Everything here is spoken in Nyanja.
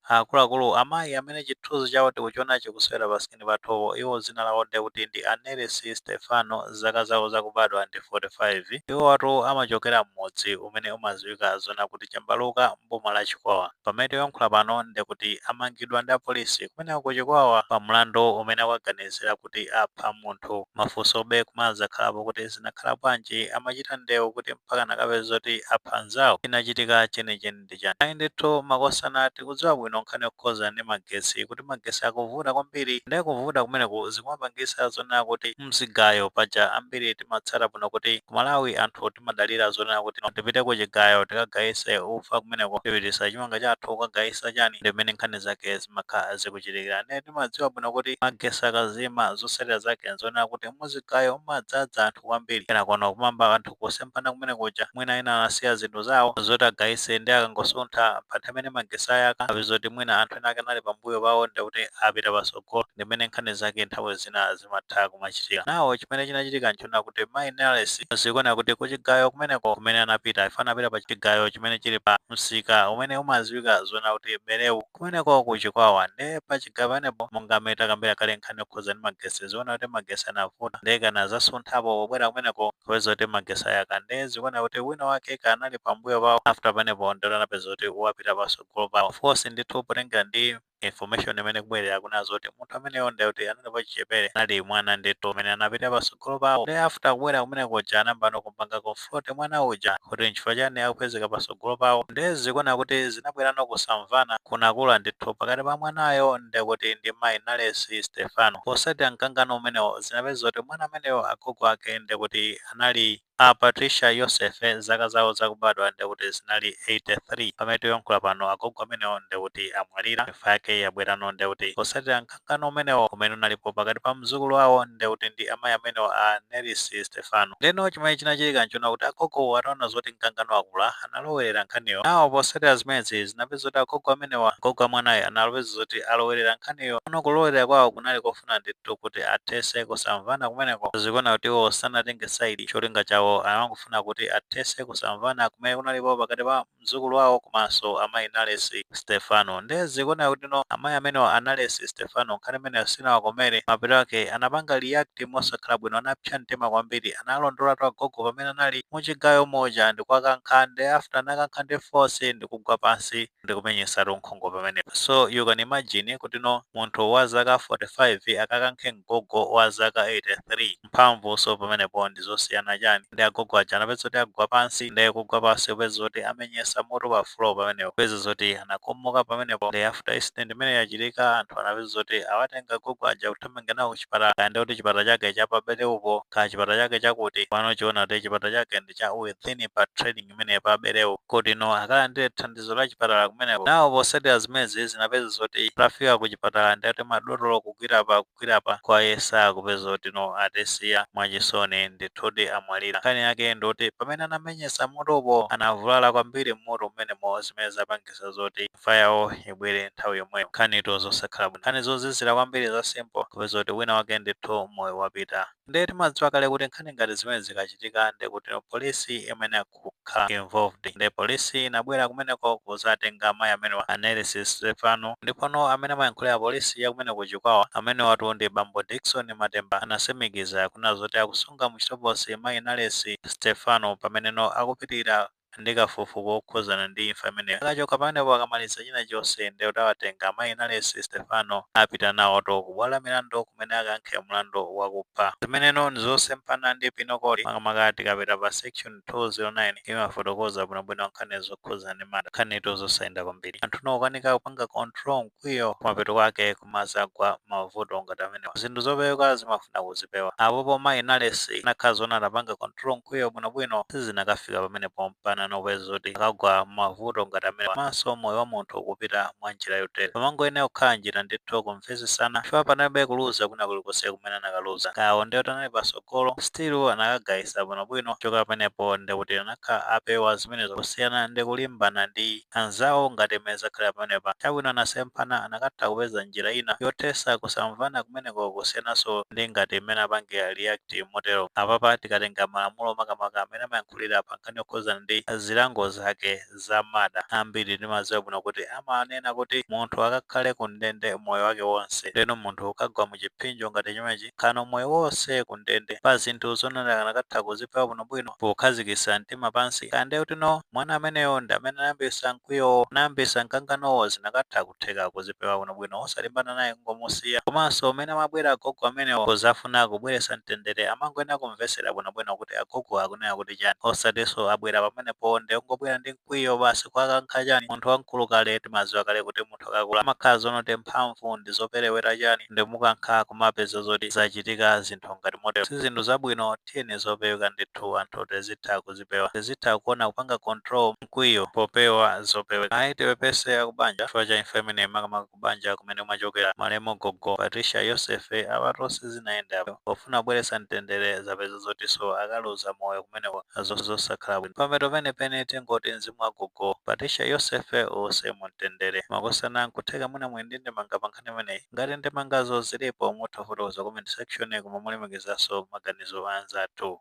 Akuluakulu, amayi amene chithunzi chawo tikuchiona chikusewera pa screen pathupo, iwo dzina lawo ndiye kuti ndi a Nelisi Sitefano, zaka zawo zakubadwa ndi 45. Iwowatu amachokera m'mudzi umene umadziwika zoona kuti Chambaluka m'boma la Chikwawa. Pamene tikuyankhula pano ndiye kuti amangidwa ndi apolisi kumeneko ku Chikwawa pa mlandu umene akuwaganizira kuti apha munthu. Mafunsobe kumadzakhalapo kuti zinakhala bwanji amachita ndewu kuti mpakana nkukapeza zoti apha mnzawo? Chinachitika chenicheni. ndi chani? Ayi ndithu makosana tikudziwa bwino nkhani yokhudzana ndi magetsi kuti magetsi akuvuta kwambiri nde kuvuta kumeneku zikumapangitsa zonena kuti mzigayo paja ambiri timatsata bwino kuti ku Malawi anthu timadalira zonena kuti tipite ku chigayo tikagayitse ufa kumeneko tipititse chimanga chathu kukagayitsa chani ndi m'mene nkhani zake zimakha zikuchitikira nde timadziwa bwino kuti magetsi akazima zotsatira zake nzonena kuti muzigayo mumadzadza anthu kwambiri kenakono kumayamba anthu kusemphana kumene kuja mwina ena anasiya zinthu zawo zoti agayise ndi akangosuntha pa nthawi imene magesi ayaka apezoti mwina anthu ena ake anali pambuyo pawo ndi kuti apita patsogolo ndi mmene nkhani zake nthawi zina zimatha kumachitika nawo chimene chinachitika nchona kuti mayi Nelesi zikuoneka kuti kuchigayo kumeneko kumene anapita I think anapita pa chigayo chimene chili pa msika umene umadziwika zona kuti berewu Kumeneko ku Chikwawa nde pa chigayo panepo monga m'mene takambira kale nkhani yokhuza ndi magesi zikuoneka kuti magesi anavuta nde anadzasunthapo pobwera kumeneko kukapeza kuti magesi ayaka nde zikuoneka kuti wina wake kaya anali pa mbuyo pawo after panepo ndekuti anapeza kuti wapita pasogolo pawo of course ndithu potengera ndi information imene ikubwera akunena zoti munthu ameneyo nde kuti anali wachichepere anali mwana ndithu amene anapita pasogolo pawo nde after kubwera kumene kuja anayambano kumpanga con front mwana uja kuti nchifukwa chani akupezeka pasogolo pawo nde zikuoneka kuti zinabwerano kusamvana kunakula ndithu pakati pa mwanayo ndekuti ndi mayi Nalesi Stefano. Posatira mkangano umenewo zinapeza kuti mwana ameneyo agogo ake ndekuti anali a Patricia Yosefe zaka zawo zakubadwa ndekuti zinali 83. Pamene tikuyankhula pano agogo amenewo ndekuti amwalira. Imfa yake yabwerano ndekuti posatira. mkangano umenewo umene unalipo pakati pa mzukulu wawo nde kuti ndi amayi amenewo a Nelesi Stefano. Ndeno chimene chinachitika nchona kuti agogowo ataona zoti mkangano wakula analowelera nkhaniyo. Nawo posatira zimenezi zinapeza kuti agogo amenewa, agogo a mwanayo anapeza zoti alowelera nkhaniyo. Ano kulowelera kwawo kunali kofuna ndithu kuti athese kusamvana kumeneko. Zikuoneka kuti iwo sanatenge side, cholinga chawo anangofuna kuti athese kusamvana kumene kunalipo pakati pa. mzukulu wawo komanso amayi Nalesi Sitefano. Nde zikuoneka kutino amayi amenewa a Nalesi Sitefano nkhani imeneyo sinawakomere, mapeto ake anapanga react mosakhala bwino, anapsa mtima kwambiri, analondolatu agogo pamene anali muchigayo muja ndikuwakankha nde after anawakankha ndi force ndikugwa pansi ndikumenyesatu nkhongo pamenepa so you can imagine kutino munthu wa zaka 45 akakankhe mgogo wa zaka 83. mphamvu so pamenepo ndizosiyana chani ndi agogo aja anapeza kuti agwa pansi nde kugwa pansi kupeza zoti amenyesa mutu pa floor pamenepo kupeza zoti anakomoka pamenepo nde after incident imene yachitika anthu anapeza zoti awatenga agogo aja kuthamanga nawo kuchipatala kaya nde kuti chipatala chake cha pa Bereupo kaya chipatala chake chakuti pano zikuoneka kuti chipatala chake ndi cha within pa trading imene pa Bereu kuti no akalandire thandizo la chipatala kumeneko nawo posatira zimezi zinapeza zoti atafika ku chipatala nde kuti madotolo kugwira pa kugwira apa kuwayesa kupeza zoti no atisiya mwachisoni ndithudi amwalira nkhani yake ndi yoti pamene anamenyetsa mutupo anavulala kwambiri mmutu mmenemo zimene zapangisa zoti imfa yawo ibwere nthawi yomweyo nkhanitu zosakhala bwino nkhani zozizira kwambiri za simple kupeza kuti wina wake ndithu moyo wapita nde timadziwa kale kuti nkhani ngati zimene zikachitika ndekuti no police imene kukhala involved nde police inabwera kumeneko kuzatenga amayi amenewa a Nales Stephano ndipono amene amayankhulira police ya kumeneko ku Chikwawa amenewatu ndi bambo Dickson Matemba anasimikiza kunena zoti akusunga mu chitokosi mayi Nales Stephano pameneno akupitilira ndi kafukufuku wokhuzana ndi imfa imeneyo akachoka pamenepo akamaliza china chonse nde kuti awatenga amayi Nales Stephano apita nawotu ku bwalo la milandu kumene akayankhe mlandu wakupha zimeneno ndizosempana ndi penal code makamaka tikapita pa section 209 imafotokoza bwinobwino nkhani zokhudzana ndi mada nkhanitu zosayenda kwambiri anthu nokanika kupanga control mkwiyo kumapeto kwake kumazagwa mavuto ngati amenewa zinthu zopeweka zimafuna kuzipewa apopo mayi Nales anakhala zona anapanga control mkwiyo bwinobwino sizinakafika pamenepo mpana nopeza zoti akagwa mmavuto ngati amenewa komanso moyo wa munthu kupita mwa njira yotere pamangoyenera kukhala njira ndithu kumvetsetsana chifukwa panalibe kuluza kwina kulikonse kumene anakaluza kawo ndiye anali patso golo still anakagaisa bwino bwino kuchoka pamenepo ndekuti anakhala apewa zimenezo kusiyana ndi kulimbana ndi anzawo ngati mmene zakhalira pamenepa chabwino anasemphana anakatha kupeza njira ina yothesa kusamvana kumeneko kusiyananso ndi ngati mmene apangira react motero apapa tikatenga malamulo makamaka amene amayankhulira pankhani yokhuzana ndi zilango zake za mada ambiri ndimaziwa bwino kuti amanena kuti munthu akakhale ku ndende moyo wake wonse ndeno munthu ukagwa mu chiphinjo ngati chimenechi khano moyo wonse ku ndende pa zinthu zonena anakatha kuzipewa bwino bwino pokhazikisa mtima pansi kaya nde kuti no mwana ameneyo ndi amene anayambisa mkwiyowo anayambisa mkanganowo zinakatha kutheka kuzipewa bwino bwino osalimbana naye kungomusiya komanso mmene amabwera agogo amenewo kuzafuna kubweresa mtendere amangoyenera kumvesera bwino bwino kuti kuti agogo akunena kuti chani osatinso abwera pamenepo nde kungobwera ndi mkwiyo basi kuwakankha chani munthu wamkulu kale timaziwa kale kuti munthu akakula amakhala zonoti mphamvu ndizoperewera chani nde mukankha kumapeza zoti zachitika zinthu ngati motero sizinthu zabwino tiyeni zopeweka ndithu anthu tizitha kuzipewa tizitha kuona kupanga control mkwiyo popewa zopeweka ayi tiwapepese akubanja chifukwa cha imfa imeneyi makamaka ku banja kumene amachokera malemu gogo Patricia Yosefe, apatu nde sizinayende apo. Pofuna kubweretsa mtendere zapeza zotinso akaluza moyo kumeneko ndi zosakhala bwino. Pamapeto penipeni tingoti mzimu wa gogo Patricia Yosefe uuse mu mtendere. Makosana nkutheka mwina muli ndi ndemanga pa nkhani imeneyi? Ngati ndemangazo ziripo mutha kufotokoza ku comment section koma molemekezanso maganizo a anzathu.